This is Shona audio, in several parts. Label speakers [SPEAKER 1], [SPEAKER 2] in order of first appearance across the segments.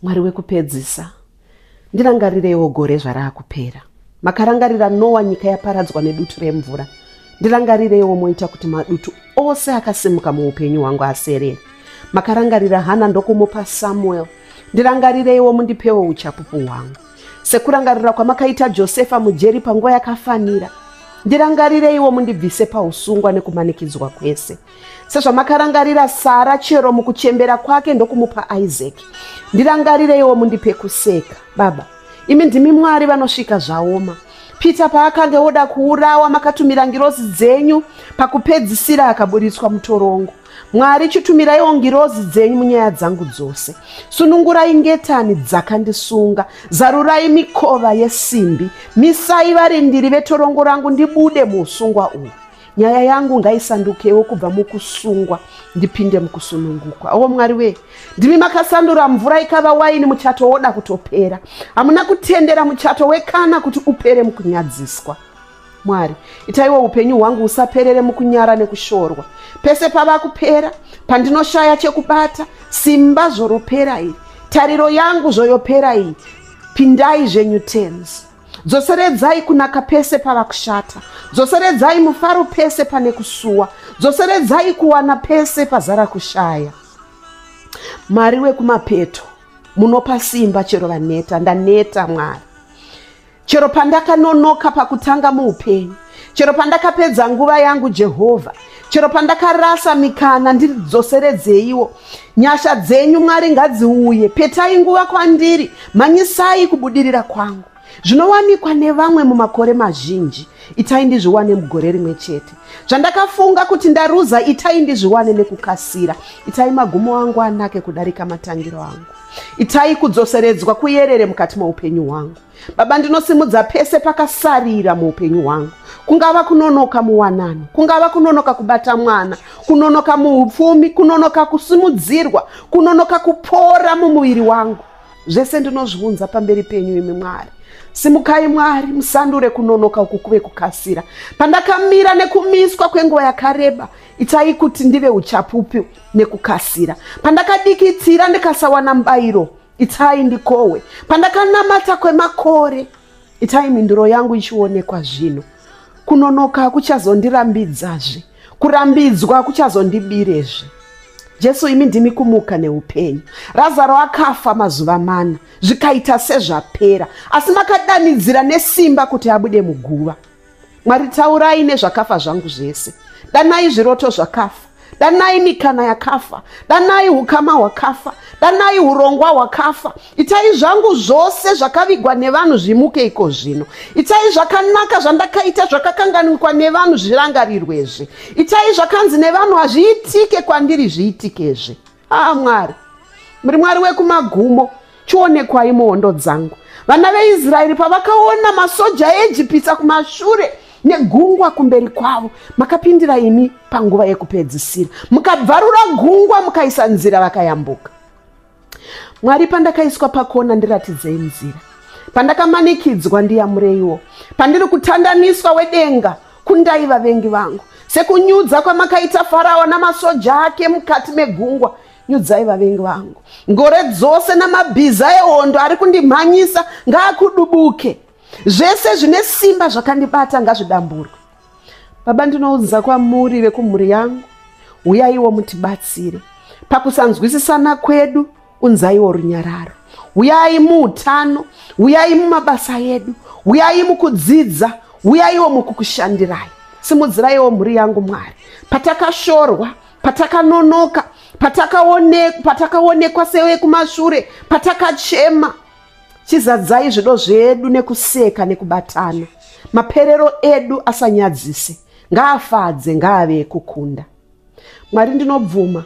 [SPEAKER 1] mwari wekupedzisa ndirangarireiwo gore zvaraakupera makarangarira nowa nyika yaparadzwa nedutu remvura ndirangarireiwo moita kuti madutu ose akasimuka muupenyu hwangu aserere makarangarira hana ndokumupa samuel ndirangarireiwo mundipewo uchapupu hwangu sekurangarira kwamakaita josefa mujeri panguva yakafanira ndirangarireiwo mundibvise pausungwa nekumanikidzwa kwese sezvamakarangarira sara chero mukuchembera kwake ndokumupa isaac ndirangarireiwo mundipe kuseka baba imi ndimi mwari vanosvika zvaoma peter paakange woda kuurawa makatumira ngirozi dzenyu pakupedzisira akaburitswa mutorongo mwari chitumiraiwo ngirozi dzenyu munyaya dzangu dzose sunungurai ngetani dzakandisunga zarurai mikova yesimbi misai varindiri vetorongo rangu ndibude muusungwa uhu nyaya yangu ngaisandukewo kubva mukusungwa ndipinde mukusunungukwa o mwari wee ndimi makasandura mvura ikava waini muchato woda kutopera hamuna kutendera muchato wekana kuti upere mukunyadziswa mwari itaiwo upenyu hwangu husaperere mukunyara nekushorwa pese pava kupera pandinoshaya chekubata simba zvoropera iri tariro yangu zvoyopera iyi pindai zvenyu tenzi dzoseredzai kunaka pese pava kushata dzoseredzai mufaro pese pane kusuwa dzoseredzai kuwana pese pazara kushaya mwari wekumapeto munopa simba chero vaneta ndaneta mwari chero pandakanonoka pakutanga muupenyu chero pandakapedza nguva yangu jehovha chero pandakarasa mikana ndidzoseredzeiwo nyasha dzenyu mwari ngadziuye petai nguva kwandiri mhanyisai kubudirira kwangu zvinowanikwa nevamwe mumakore mazhinji itai ndizviwane mugore rimwe chete zvandakafunga kuti ndaruza itai ndizviwane nekukasira itai magumo angu anake kudarika matangiro angu itai kudzoseredzwa kuyerere mukati moupenyu hwangu Baba, ndinosimudza pese pakasarira muupenyu hwangu, kungava kunonoka muwanano, kungava kunonoka kubata mwana, kunonoka muupfumi, kunonoka kusimudzirwa, kunonoka kupora mumuviri wangu. Zvese ndinozviunza pamberi penyu, imi Mwari. Simukai Mwari, musandure kunonoka uku kuve kukasira. Pandakamira nekumiswa kwenguva yakareba, itai kuti ndive uchapupu nekukasira. Pandakadikitira ndikasawana mbairo Itai ndikohwe pandakanamata kwemakore, itai mhinduro yangu ichionekwa zvino. Kunonoka kuchazondirambidzazve, kurambidzwa kuchazondibirezve. Jesu, imi ndimi kumuka neupenyu. Razaro akafa mazuva mana, zvikaita sezvapera, asi makadanidzira nesimba kuti abude muguva. Mwari, taurai nezvakafa zvangu zvese. Danai zviroto zvakafa. Danai mikana yakafa. Danai hukama hwakafa. Danai hurongwa hwakafa. Itai zvangu zvose zvakavigwa nevanhu zvimuke iko zvino. Itai zvakanaka zvandakaita zvakakanganwikwa nevanhu zvirangarirwezve. Itai zvakanzi nevanhu hazviitike kwandiri zviitikezve. aa mwari muri mwari wekumagumo chionekwai muhondo dzangu vana veisraeri pavakaona masoja eejipita kumashure negungwa kumberi kwavo makapindira imi panguva yekupedzisira mukabvarura gungwa mukaisa nzira vakayambuka mwari pandakaiswa pakona ndiratidzei nzira pandakamanikidzwa ndiyamureiwo pandiri kutandaniswa wedenga Kundai vavengi vangu, sekunyudza kwamakaita Farao namasoja ake mukati megungwa, nyudzai vavengi vangu. Ngore dzose namabhiza ehondo ari kundimhanyisa ngaakudubuke. Zvese zvine simba zvakandibata ngazvidamburwe. Baba, ndinounza kwamuri vekumhuri yangu, huyaiwo mutibatsire pakusanzwisisana kwedu unzaiwo runyararo huyai muutano huyai mumabasa edu huyai mukudzidza huyaiwo mukukushandirai simudziraiwo mhuri yangu mwari patakashorwa patakanonoka patakaonekwa sewekumashure patakachema chizadzai zvido zvedu nekuseka nekubatana maperero edu asanyadzise ngaafadze ngaave ekukunda Mwari ndinobvuma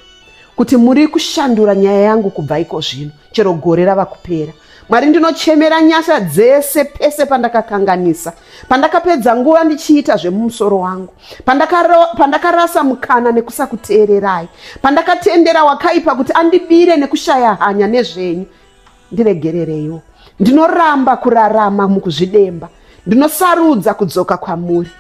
[SPEAKER 1] kuti muri kushandura nyaya yangu kubva iko zvino chero gore rava kupera mwari ndinochemera nyasha dzese pese pandakakanganisa pandakapedza nguva ndichiita zvemumusoro wangu pandakarasa mukana nekusakuteererai pandakatendera wakaipa kuti andibire nekushaya hanya nezvenyu Ndiregerereiwo. Ndinoramba kurarama mukuzvidemba. Ndinosarudza kudzoka kwamuri.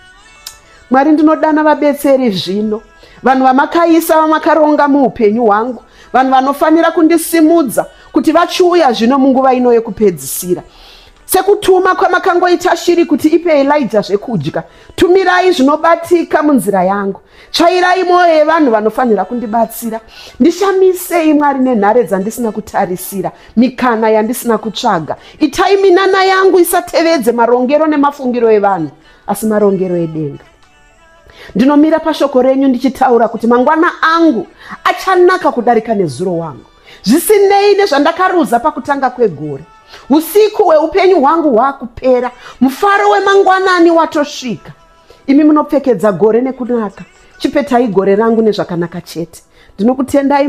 [SPEAKER 1] Mwari ndinodana vabetseri zvino. Vanhu vamakaisa vamakaronga muupenyu hwangu. Vanhu vanofanira kundisimudza kuti vachiuya zvino munguva ino yekupedzisira. Sekutuma kwamakangoita shiri kuti ipe Elijah zvekudya, tumirai zvinobatika munzira yangu. Tsvairai mwoyo yevanhu vanofanira kundibatsira. Ndishamisei Mwari nenhare dzandisina kutarisira, mikana yandisina kutsvaga. Itai minana yangu isatevedze marongero nemafungiro evanhu, asi marongero edenga. ndinomira pashoko renyu ndichitaura kuti mangwana angu achanaka kudarika nezuro wangu zvisinei nezvandakaruza pakutanga kwegore usiku hweupenyu hwangu hwaakupera mufaro wemangwanani watosvika imi munopfekedza gore nekunaka chipetai gore rangu nezvakanaka chete ndinokutendai